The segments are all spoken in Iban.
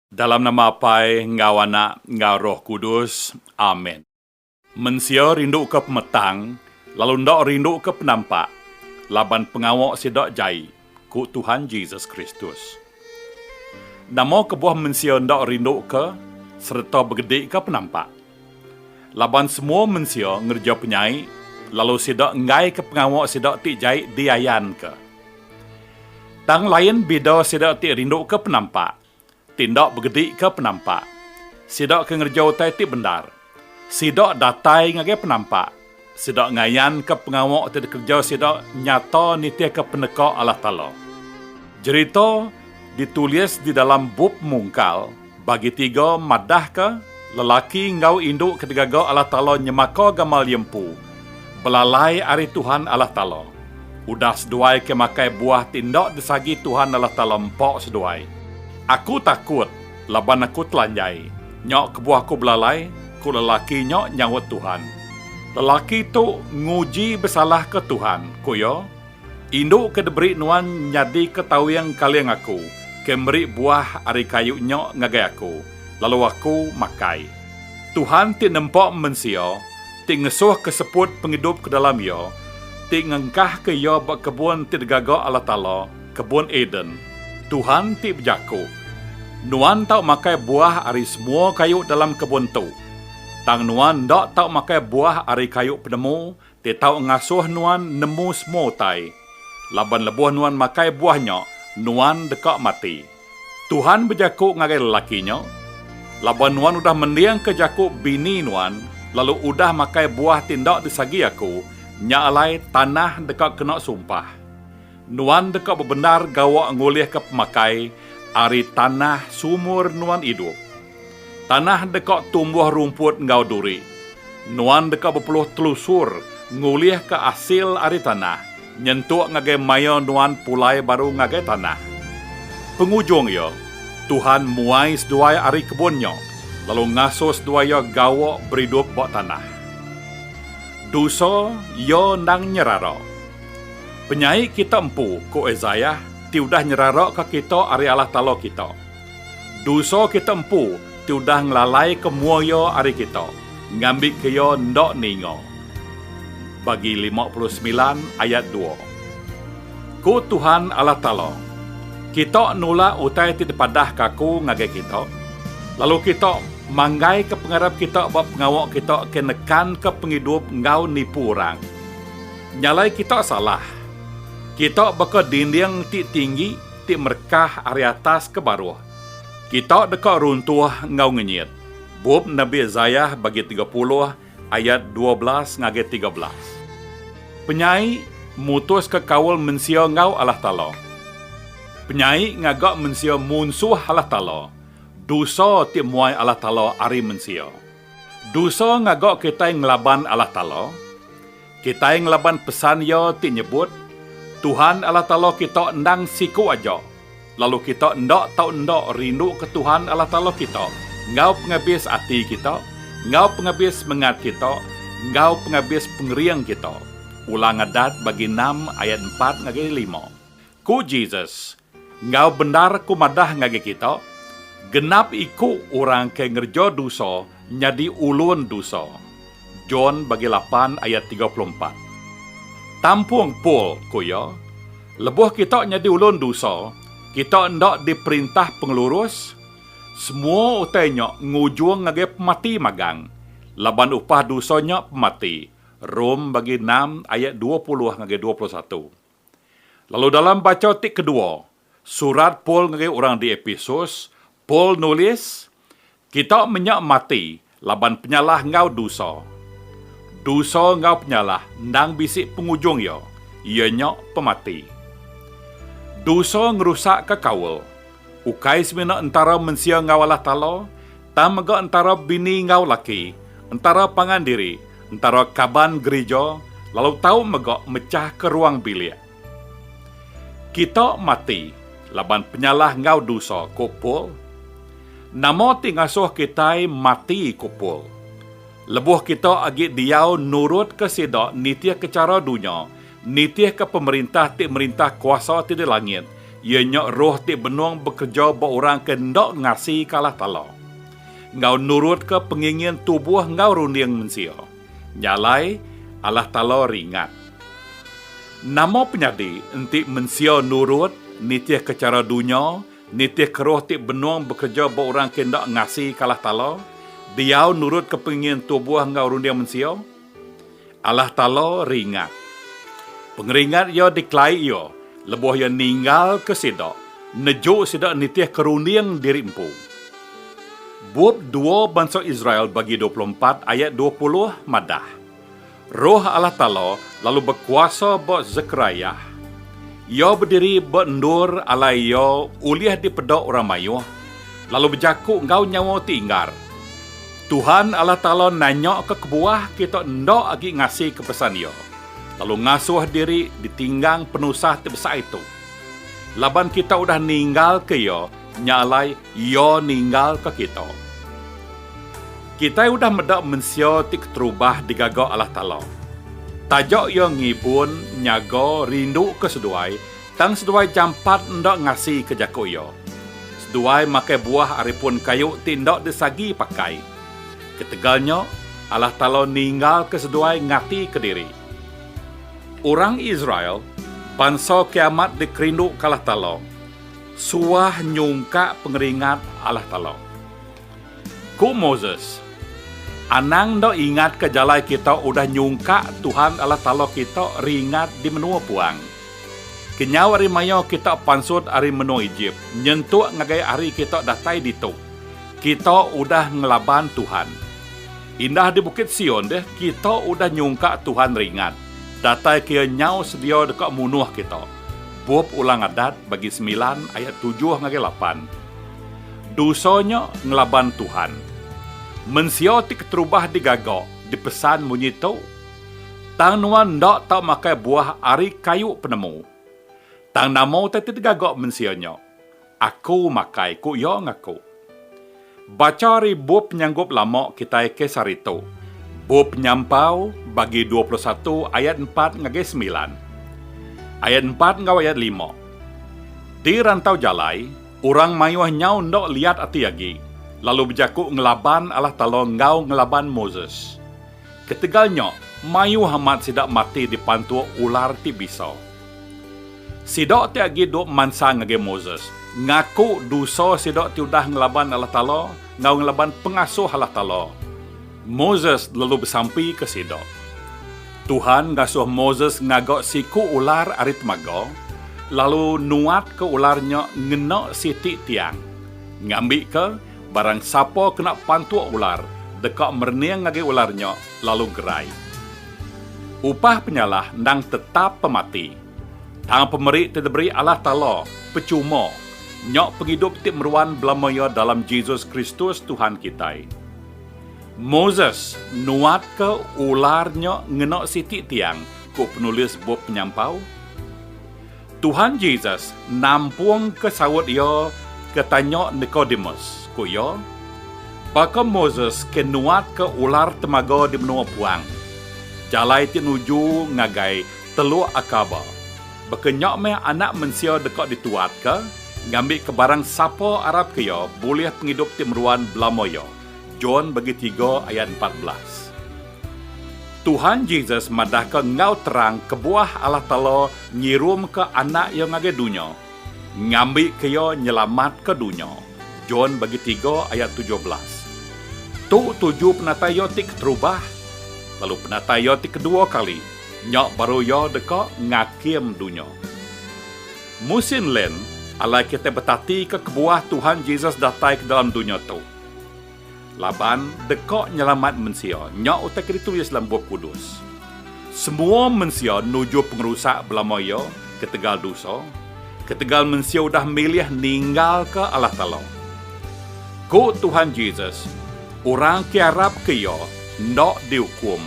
Dalam nama Apai enggau Anak enggau Roh Kudus. Amen. Mensia rinduka pemetang, lalu enda rinduka penampak, laban pengawa sida jai, ku Tuhan Jesus Kristus. Nama kebuah mensia enda rinduka sereta begedika penampak? Laban semua mensia ngereja penyai, lalu sida enggaika pengawa sida ti jai diayanka. Tang lain bida sida ti rinduka penampak, ti enda begedika penampak. Sida ke ngereja utai ti bendar, sida datai ngagai penampak, Sida ngayanka pengawa ti dikereja sida nyata nitihka peneka Allah Taala. Jerita ditulis di dalam Bup Mungkal, Bagi Tiga madahka lelaki enggau indu ke digaga Allah Taala nyemaka gamal iya empu, belalai ari Tuhan Allah Taala. Udah seduai ke makai buah ti enda disagi Tuhan Allah Taala empa seduai. Aku takut! Laban aku telanjai, nya kebuah aku belalai, ku lelaki nya nyaut Tuhan. Lelaki tu nguji besalahka Tuhan, ku iya, Indu ke diberi nuan nyadika tawing kaling aku, ke meri buah ari kayu nya ngagai aku, lalu aku makai. Tuhan ti nempa mensia, ti ngesuhka seput pengidup ke dalam iya, ti ngengkahka iya ba kebun ti digaga Allah Taala, kebun Eden, Tuhan ti bejako, Nuan tau makai buah ari semua kayu dalam kebun tu, tang nuan enda tau makai buah ari kayu penemu ti tau ngasoh nuan nemu semua utai, laban lebuh nuan makai buah nya, nuan deka mati. Tuhan bejako ngagai lelaki nya, Laban nuan udah mendingka jako bini nuan, lalu udah makai buah ti enda disagi Aku, nya alai tanah deka kena sumpah. Nuan deka bebendar gawa ngulihka pemakai ari tanah seumur nuan idup. Tanah deka tumbuh rumput enggau duri. Nuan deka bepeluh telusur ngulihka asil ari tanah nyentuk ngagai maya nuan pulai baru ngagai tanah. Pengujung iya, Tuhan muai seduai ari kebun nya lalu ngasuh seduai iya gawa beridup ba tanah. Dosa iya endang nyerara. Penyai kita empu, ku Isaiah, ti udah nyeraraka kita ari Allah Taala kita. Dosa kita empu ti udah ngelalaika mua iya ari kita, ngambika iya enda ninga. Bagi lima puluh semilan ayat dua. Ku Tuhan Allah Taala, Kita nulak utai ti dipadahka Aku ngagai kita, lalu kita manggaika pengarap kita ba pengawa kita ke nekanka pengidup enggau nipu orang. Nyalai kita salah. Kita baka dinding ti tinggi ti merekah ari atas ke baruh. Kita deka runtuh enggau ngenyit. Bup Nabi Isaiah bagi tiga puluh ayat dua belas ngagai tiga belas. Penyai mutuska kaul mensia enggau Allah Taala. Penyai ngaga mensia munsuh Allah Taala, dosa ti muai Allah Taala ari mensia. Dosa ngaga kitai ngelaban Allah Taala. Kitai ngelaban pesan iya ti nyebut, Tuhan Allah Taala kita endang siku aja, lalu kita enda tau enda rinduka Tuhan Allah Taala kita enggau pengabis ati kita, enggau pengabis semengat kita, enggau pengabis pengering kita. Ulang Adat bagi enam ayat empat ngagai lima. Ku Jesus, Enggau bendar aku madah ngagai kita, genap iku orang ke ngereja dosa nyadi ulun dosa. John bagi lapan ayat tiga puluh empat. Tampung Paul ku iya, lebuh kita nyadi ulun dosa, kita enda diperintah pengelurus, semua utai nya ngujung ngagai pemati magang, laban upah dosa nya pemati. Rom bagi enam ayat dua puluh ngagai dua puluh satu. Lalu dalam bacha ti kedua surat Paul ngagai orang di Epesus, Paul nulis, Kita menya mati laban penyalah enggau dusa. Dusa enggau penyalah endang bisi pengujung iya, iya nya pemati. Dusa ngerusakka kaul. ukai semina entara mensia enggau Allah Taala, tang mega entara bini enggau laki, entara pangan diri, entara kaban gerija, lalu tau mega mechahka ruang bilik. Kita mati laban penyalah enggau dosa, ku Paul. Nama ti ngasuh kitai mati, ku Paul? Lebuh kita agi diau nurutka sida nitihka chara dunya, Nitihka pemerintah ti merintah kuasa ti di langit, iya nya roh ti benung bekereja ba orang ke enda ngasika Allah Taala, enggau nurutka pengingin tubuh enggau runding mensia. Nya alai, Allah Taala ringat. Nama penyadi enti mensia nurut, nitihka chara dunya, nitihka roh ti benung bekereja ba orang ke enda ngasika Allah Taala, diau nurutka pengingin tubuh enggau runding mensia? Allah Taala ringat. Pengeringat Iya dikelai Iya lebuh Iya ninggalka sida, neju sida nitihka runding diri empu. Bup dua bansa Israel bagi dua puluh empat ayat dua puluh madah, Roh Allah Taala lalu bekuasa ba Zekariah. Iya bediri ba endur alai iya ulih dipeda orang mayuh, lalu bejaku enggau nyawa ti inggar. Tuhan Allah Taala nanyaka kebuah kita enda agi ngasika pesan Iya, lalu ngasuh diri ditinggang penusah ti besai tu. Laban kita udah ninggalka Iya, nya alai Iya ninggalka kita. Kitai udah meda mensia ti keterubah digaga Allah Taala. Taja Iya ngibun, nyaga, rinduka seduai, Tang seduai jampat enda ngasika jaku iya. Seduai makai buah ari pun kayu ti enda disagi pakai. Ketegal nya, Allah Taala ninggalka seduai ngatika diri. Orang Israel, bansa ke amat dikerinduka Allah Taala, suah nyungkak pengeringat Allah Taala. Ku Moses, Anang enda ingatka jalai kita udah nyungkak Tuhan Allah Taala kita ringat di menua puang. Kenyau ari mayau kita pansut ari menua Ejip, nyentuk ngagai hari kita datai ditu, kita udah ngelaban Tuhan. Indah di Bukit Sion deh, kita udah nyungkak Tuhan ringat, dataika Iya nyau sedia deka munuh kita. Bup Ulang Adat bagi semilan ayat tujuh ngagai lapan. Dosa nya ngelaban Tuhan. Mensia ti keterubah digaga, dipesan munyi tu. Tang nuan enda tau makai buah ari kayu penemu. Tang nama utai ti digaga mensia nya? Aku makai, ku iya ngaku. Bacha ari bup penyanggup lama kitai kes hari tu, Bup Penyampau, bagi dua puluh satu ayat empat ngagai semilan. Ayat empat enggau ayat lima. Di rantau jalai, orang mayuh nyau enda liat ati agi, lalu bejaku ngelaban Allah Taala enggau ngelaban Moses. Ketegal nya, mayuh amat sida mati dipantuk ular ti bisa. Sida ti agi duk mansa ngagai Moses, ngaku dosa sida ti udah ngelaban Allah Taala enggau ngelaban pengasuh Allah Taala. Moses lalu besampika sida. Tuhan ngasuh Moses ngaga siku ular ari temaga, lalu nuatka ular nya ngena siti tiang, ngambika Barang sapa kena pantuk ular deka merening ngagai ular nya lalu gerai. Upah penyalah endang tetap pemati. Tang pemeri ti diberi Allah Taala pechuma nya pengidup ti meruan belama iya dalam Jesus Kristus Tuhan kitai. Moses nuatka ular nya ngena siti tiang, ku penulis bup Penyampau. Tuhan Jesus nampungka saut iya ke tanya Nikodemus, ku iya, Baka Moses ke nuatka ular temaga di menua puang, jalai ti nuju ngagai Teluk Akaba, baka nya meh Anak Mensia deka dituatka, ngambika barang sapa arapka iya bulih pengidup ti meruan belama iya. John bagi tiga ayat empat belas. Tuhan Jesus madahka enggau terang kebuah Allah Taala ngirumka Anak Iya ngagai dunya, ngambika Iya nyelamatka dunya, John bagi tiga ayat tujuh belas. Tu tuju penatai Iya ti keterubah, lalu penatai Iya ti kedua kali, nya baru Iya deka ngakim dunya. Musin len, alai kitai betatika kebuah Tuhan Jesus datai ke dalam dunya tu. Laban deka nyelamat mensia. Nya utai ke ditulis dalam Bup Kudus. Semua mensia nuju pengerusak belama iya ketegal dosa, ketegal mensia udah milih ninggalka Allah Taala. Ku Tuhan Jesus, Orang ke arapka Iya enda diukum,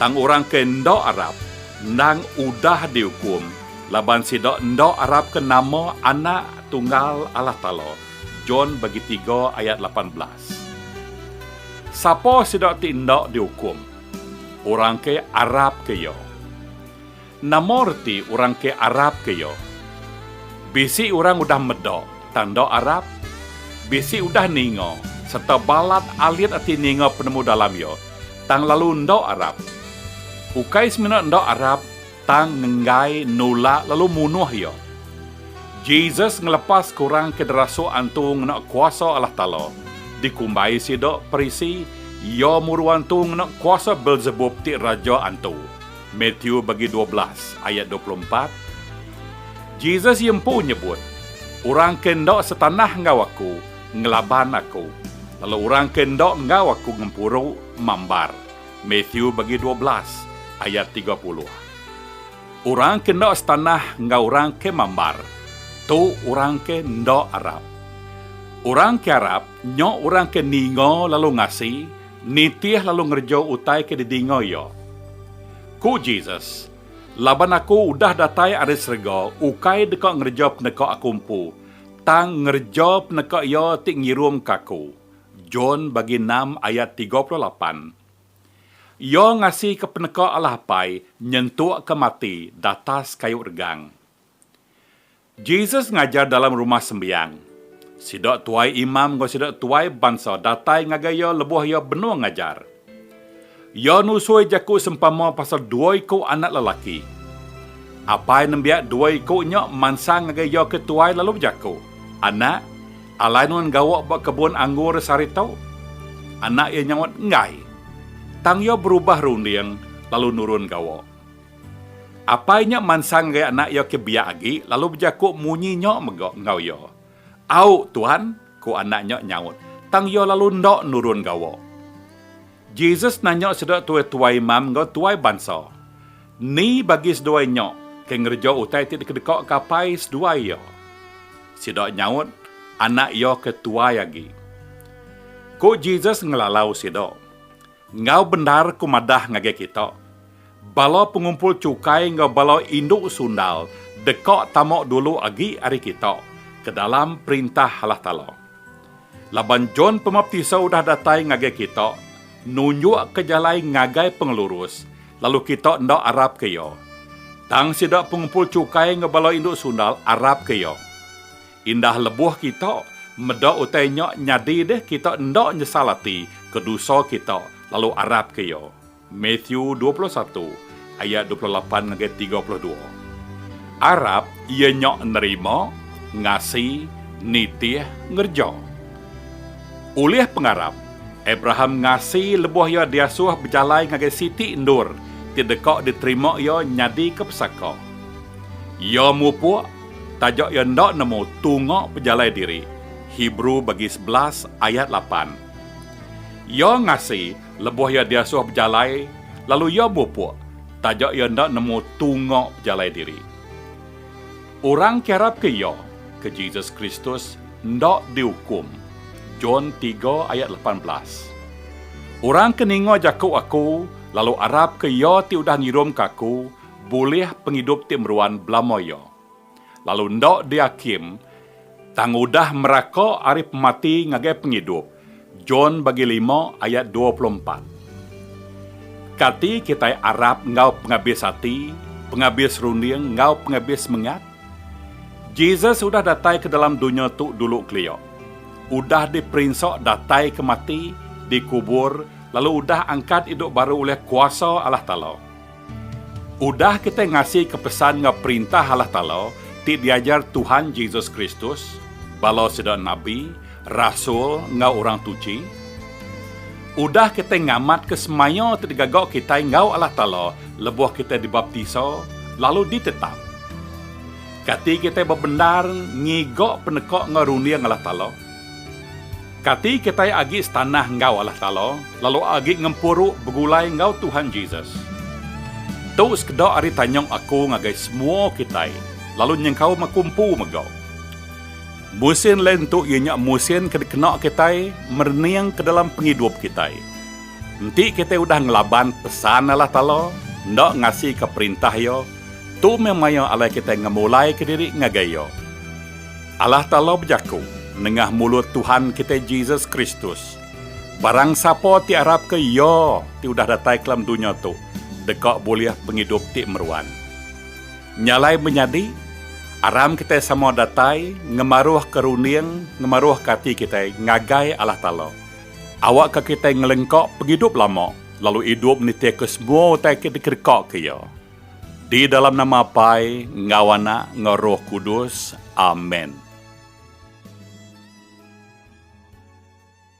tang orang ke enda arap, endang udah diukum, laban sida enda arapka nama Anak Tunggal Allah Taala. John bagi tiga ayat lapan belas. Sapa sida ti enda diukum? Orang ke arapka Iya. Nama reti orang ke arapka Iya? Bisi orang udah meda tang enda arap. Bisi udah ninga sereta balat alit ati ninga penemu-dalam Iya, tang lalu enda arap. Ukai semina enda arap, Tang nenggai, nulak, lalu munuh iya. Jesus ngelepas ke orang ke derasuk antu ngena kuasa Allah Taala. Dikumbai sida, Parisi, iya muru antu ngena kuasa Beelzebub ti raja antu. Matthew bagi dua belas, ayat dua puluh empat. Jesus iya empu nyebut, Orang ke enda setanah enggau Aku, ngelaban Aku, lalu orang ke enda enggau Aku ngempuru, mambar. Mathew bagi dua belas ayat tiga puluh Orang ke enda setanah enggau orang ke mambar, tu orang ke enda arap. Orang ke arap, nya orang ke ninga lalu ngasi, nitih lalu ngereja utai ke didinga iya. Ku Jesus, Laban Aku udah datai ari serega ukai deka ngereja peneka Aku empu, tang ngereja peneka Iya ti ngirumka Aku, John bagi enam ayat tiga puluh lapan. Iya ngasika peneka Allah Apai nyentukka mati datas kayu regang. Jesus ngajar dalam Rumah Sembiang. Sida tuai imam enggau sida tuai bansa datai ngagai iya lebuh iya benung ngajar. Iya nusui jaku sempama pasal dua iku anak lelaki. Apai nembiak dua iku nya mansang ngagai iya ke tuai lalu bejaku, Anak, alai nuan gawa ba kebun anggur sehari tu? Anak iya nyaut, Enggai. Tang iya berubah runding lalu nurun gawa. Apai nya mansang ngagai anak iya ke biak agi lalu bejaku munyi nya mega enggau iya, Au, Tuan, ku anak nya nyaut, tang iya lalu enda nurun gawa. Jesus nanya sida tuai-tuai imam enggau tuai bansa, Ni bagi seduai nya ke ngereja utai ti dikedekaka apai seduai iya? Sida nyaut, Anak iya ke tuai agi. Ku Jesus ngelalau sida, Enggau bendar ku madah ngagai kita, bala pengumpul chukai enggau bala indu sundal deka tama dulu agi ari kita ke dalam Perintah Allah Taala. Laban John Pemaptisa udah datai ngagai kita, nunjukka jalai ngagai pengelurus, lalu kita enda arapka iya, tang sida pengumpul chukai enggau bala indu sundal arapka iya. Indah lebuh kita meda utai nya nyadi deh kita enda nyesal ati ke dosa kita lalu arapka Iya. Matthew dua puluh satu ayat dua puluh lapan ngagai tiga puluh dua. Arap iya nya nerima, ngasi, nitih, ngereja. Ulih pengarap, Abraham ngasi lebuh iya diasuh bejalai ngagai siti endur ti deka diterima iya nyadika pesaka. Iya mupuk taja iya enda nemu tunga pejalai diri, Hebrew bagi sebelas ayat lapan. Iya ngasi lebuh iya diasuh bejalai lalu iya bupuk taja iya enda nemu tunga pejalai diri. Orang ke arapka iya, ke Jesus Kristus, enda diukum, John tiga ayat lapan belas. Orang ke ninga jaku Aku lalu arapka Iya ti udah ngirumka Aku bulih pengidup ti meruan belama iya, lalu enda diakim tang udah meraka ari pemati ngagai pengidup, John bagi lima ayat dua puluh empat. Kati kitai arap enggau pengabis ati, pengabis runding enggau pengabis semengat? Jesus udah datai ke dalam dunya tu dulu kelia, udah diperinsa datai ke mati, dikubur, lalu udah angkat idup baru ulih kuasa Allah Taala. Udah kitai ngasika pesan enggau Perintah Allah Taala ti diajar Tuhan Jesus Kristus, bala sida nabi, rasul, enggau orang tuchi. Udah kitai ngamatka semaya ti digaga kitai enggau Allah Taala lebuh kitai dibaptisa lalu ditetap. Kati kitai bebendar ngiga peneka enggau runding Allah Taala? Kati kitai agi setanah enggau Allah Taala, lalu agi ngempuru begulai enggau Tuhan Jesus? Tu sekeda ari tanyung aku ngagai semua kitai, lalu nyengkaum aku empu mega. Musin lain tu iya nya musin ke dikena kitai merening ke dalam pengidup kitai. Enti kitai udah ngelaban pesan Allah Taala, enda ngasika perintah Iya, tu meh maya alai kitai ngemulaika diri ngagai Iya. Allah Taala bejaku nengah mulut Tuhan kitai Jesus Kristus, Barang sapa ti arapka Iya ti udah datai ke dalam dunya tu deka bulih pengidup ti meruan. Nya alai menyadi, aram kitai sama datai ngemaruhka runding ngemaruhka ati kitai ngagai Allah Taala, awakka kitai ngelengka pengidup lama lalu idup nitihka semua utai ke dikedekaka Iya. Di dalam nama Apai, enggau Anak, enggau Roh Kudus. Amen.